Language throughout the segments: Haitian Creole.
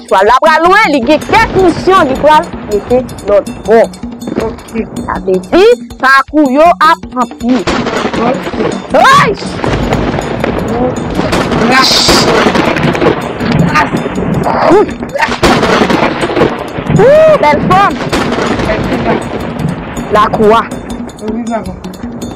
Twal la pral lwen li gen kèk misyon li pral mete lòt bò ok sa vle di pakou yo ap anpil ok eeish ooh bèl fòm lakou a.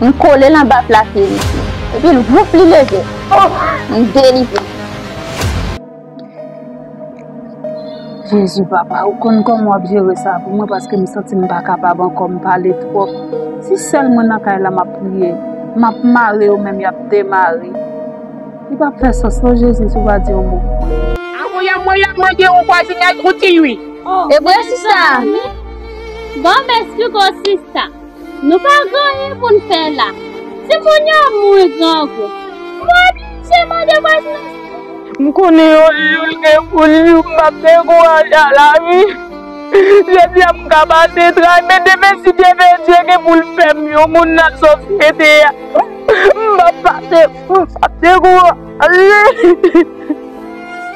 M kole l anba plafye misye. Epi l wouf li leve. Oh! M delivre. Jezi papa ou konn kòman wap jere sa pou mwen paske m santi m pa kapab ankò m pale twòp si sèl mwen nan kay la map priye map mare yo menm yap demare li pap fè sans non jezi si w pa di yon mo pou mwen. Avoye mwen yap mande ou kwa zinèt ou di ui. Evre sista? Bon mès piko sista. Nou pa gen anyen pou n fè la. Si moun yo mouri grangou. M oblije mande vwazinaj la. M konnen yon jou l gen pou l jou m pap dekouraje a lavi. Jodi a m ka pase tray men demen si Dyebedye gen pou l fè m yon moun nan sosyete a m pap pase m pap dekouraje.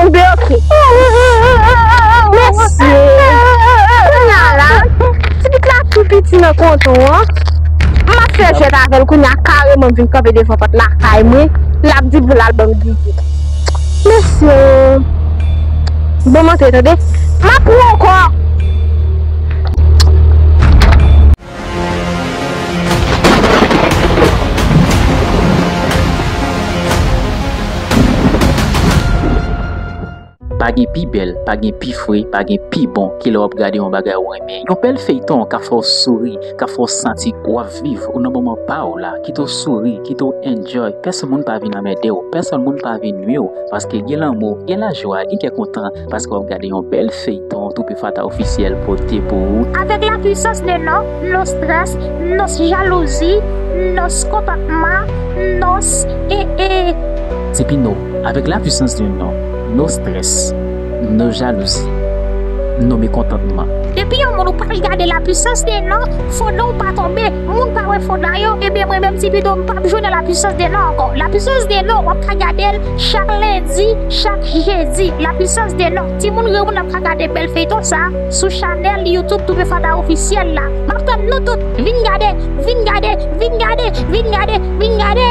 Ou de ok. Mesye. Kounya la. Ti pit la tou piti nan konton an. M ap fè jwèt avèl kounya kareman m vin kanpe devan pòt lakay mwen. L ap di pou l al ban m gigi. Mesye. Ban m antre tande. M ap pran w ankò. Pa gen pi bèl, pa gen pi fre, pa gen pi bon ke lè w ap gade yon bagay ou renmen. Yon bèl feyton ka fè w souri, ka fè w santi w ap viv, ou nan moman pa w la, kite w souri, kite w enjoy, pèsonn moun pa vin anmède w, pèsonn moun pa vin nwi w, paske gen lanmou, gen lajwa, gen kè kontan, Paske wap gade yon bèl feyton Toupee Fata Officiel pote pou ou. Avèk la puissance de non, no stress, no jalousie, no comportement, no ee. Depi no, avèk la puissance de non, no stress, no jalousie, no mekontantman. Depi yon moun ou pral gade la puissance de non, fo non ou pa tonbe. Moun pa wè fon nan yo ebyen mwen menm ti pito m pap jwe nan la puissance de nan ankò la puissance de nan wap ka gadel chak lendi chak jedi la puissance de nan timoun granmoun nap ka gade bèl feyton sa sou chanèl youtube Toupee Fada officiel la map tann nou tout vin gade vin gade vin gade vin gade vin gade.